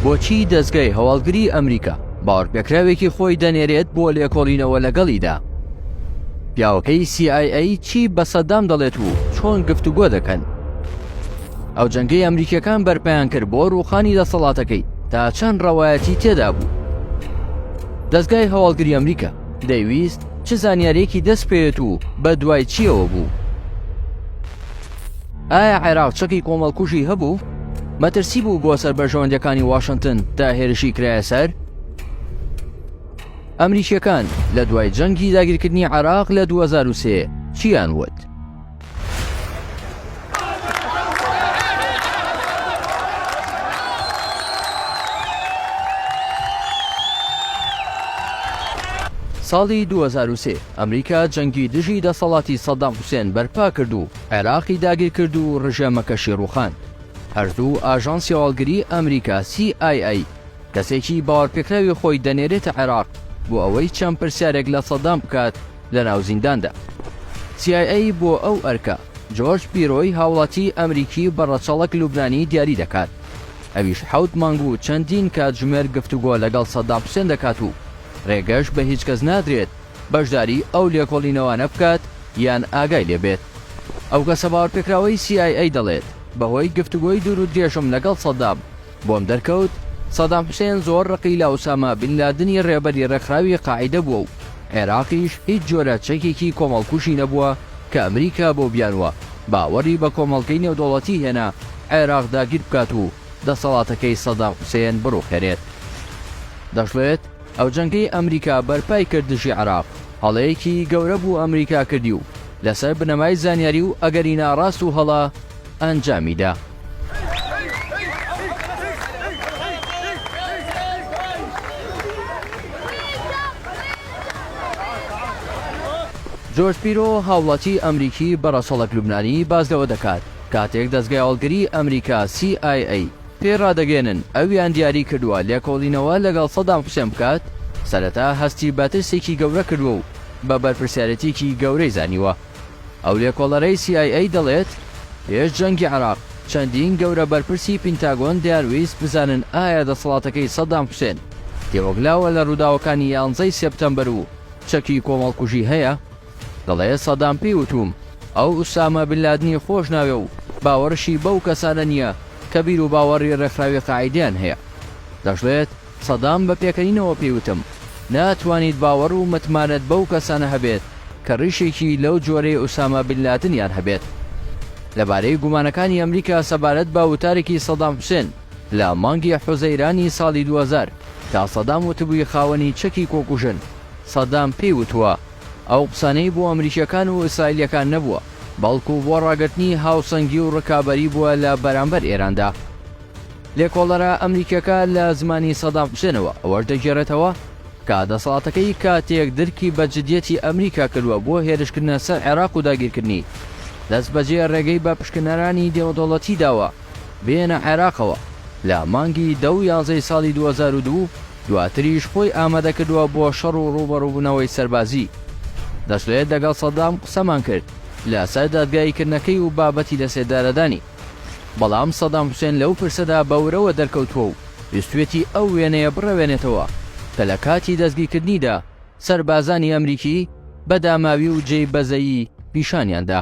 بۆچی دەزگای هەواڵگری ئەمریکا باوەڕپێکراوێکی خۆی دەنێرێت بۆ لێکۆڵینەوە لەگەڵیدا؟ پیاوەکەی CIA چی بە سەدام دەڵێت و چۆن گفتوگۆ دەکەن؟ ئەو جەنگەی ئەمریکیەکان بەرپیان کرد بۆ ڕووخانی دەسەڵاتەکەی تا چەند ڕەوایەتی تێدا بوو دەستگای هەواڵگری ئەمریکا دەیویست چ زانیارێکی دەست پێێت و بە دوای چیەوە بوو ئایا عێراق چەکی کۆمەڵکوژی هەبوو؟ مەترسی بوو بۆ سەر بەرژەوەندەکانی واشنگتن تا هێرشی کرایە سەر؟ ئەمریکیەکان لە دوای جەنگی داگیرکردنی عراق لە 2023 چیان وت؟ ساڵی 2023 ئەمریکا جەنگی دژی دەسەڵاتی سەدام حوسێن بەرپا کرد و عێراقی داگیر کرد و ڕژێمەکەشی ڕوخاند. هەردوو ئاژانسی هەواڵگری ئەمریکا CIA کەسێکی باوەرپێکراوی خۆی دەنێرێتە عێراق بۆ ئەوەی چەند پرسیارێک لە سەدام بکات لەناو زینداندا. CIA بۆ ئەو ئەرکە جۆرج پیرۆی هاوڵاتی ئەمریکی بە ڕەچەڵەک لوبنانی دیاری دەکات. ئەویش حەوت مانگ و چەندین کاتژمێر گفتوگۆ لەگەڵ سەدام حوسێن دەکات و ڕێگەش بە هیچ کەس نادرێت بەشداری ئەو لێکۆڵینەوانە بکات یان ئاگای لێ بێت. ئەو کەسە باوەڕپێکراوەی سی ئای ئەی دەڵێت، بەهۆی گفتوگۆی دوورودرێژم لەگەڵ سەدام، بۆم دەرکەوت سەدام حوسێن زۆر ڕقی لە ئوسامە بن لادنی ڕێبەری ڕێکخراوی قاعیدە بووە و عێراقیش هیچ جۆرە چەکێکی کۆمەڵکوژی نەبووە کە ئەمریکا بەو بیانووە باوەڕی بە کۆمەڵگەی نێودەوڵەتی هێنا عێراق داگیر بکات و دەسەڵاتەکەی سەدام حوسێن بڕوخێنێت. دەشڵێت، ئەو جەنگەی ئەمریکا بەرپای کرد دژی عێراق، هەڵەیەکی گەورە بوو ئەمریکا کردی و لەسەر بنەمای زانیاری و ئەگەری ناڕاست و هەڵە ئەنجامی دا. جۆرج پیرۆ، هاوڵاتی ئەمریکی بە ڕەچەڵەک لوبنانی باس لەوە دەکات، کاتێک دەزگای هەڵگری ئەمریکا، CIA، پێی ڕادەگەیەنن ئەویان دیاری کردووە لێکۆڵینەوە لەگەڵ سەدام حوسێن بکات، سەرەتا هەستی بە ترسێکی گەورە کردووە و بە بەرپرسیارێتییەکی گەورەی زانیوە. ئەو لێکۆڵەرەی CIA دەڵێت، پێش جەنگی عێراق، چەندین گەورە بەرپرسی پینتاگۆن دەیانویست بزانن ئایا دەسەڵاتەکەی سەدام حوسێن تێوەگلاوە لە ڕووداوەکانی یانزەی سێپتەمبەر و چەکی کۆمەڵکوژی هەیە؟ دەڵێ سەدام پێی وتووم ئەو ئوسامە بن لادنی خۆش ناوێ و باوەڕشی بەو کەسانە نییە کە بیروباوەڕی ڕێکخراوی قاعیدەیان هەیە. دەشڵێت سەدام بە پێکەنینەوە پێی وتم ناتوانیت باوەڕ و متمانەت بەو کەسانە هەبێت کە ڕیشێکی لەو جۆرەی ئوسامە بن لادنیان هەبێت. لەبارەی گومانەکانی ئەمریکا سەبارەت بە وتارێکی سەدام حوسێن لە مانگی حوزەیرانی ساڵی دوو هەزار کە سەدام وتبووی خاوەنی چەکی کۆکوژن سەدام پێی وتووە، ئەو قسانەی بۆ ئەمریکیەکان و ئیسرائیلیەکان نەبووە، بەڵکو بۆ ڕاگرتنی هاوسەنگی و ڕکابەری بووە لە بەرامبەر ئێراندا. لێکۆڵەرە ئەمریکیەکە لە زمانی سەدام حوسێنەوە ئەوەش دەگێڕێتەوە کە دەسەڵاتەکەی کاتێک درکی بە جدیەتی ئەمریکا کردوە بۆ هێرشکردنە سەر عێراق و داگیرکردنی، دەستبەجێ ڕێگەی بە پشکنەرانی نێودەوڵەتی داوە. بێنە عێراقەوە لە مانگی دە و یازەی ساڵی دوو هەزار و دوو، دواتریش خۆی ئامادەکردوە بۆ شەڕ و ڕوبەڕوبونەوەی سەربازی. دەشڵێت دەگەڵ سەدام قسەمان کرد لەسەر دادگاییکردنەکەی و بابەتی لەسێدارەدانی. بەڵام سەدام حوسێن لەو پرسەدا بە ورەوە دەرکەوتوە و ویستوێتی ئەو وێنەیە بڕەوێنێتەوە کە لە کاتی دەستگیکردنیدا سەربازانی ئەمریکی بە داماوی و جێی بەزەیی پیشانیاندا.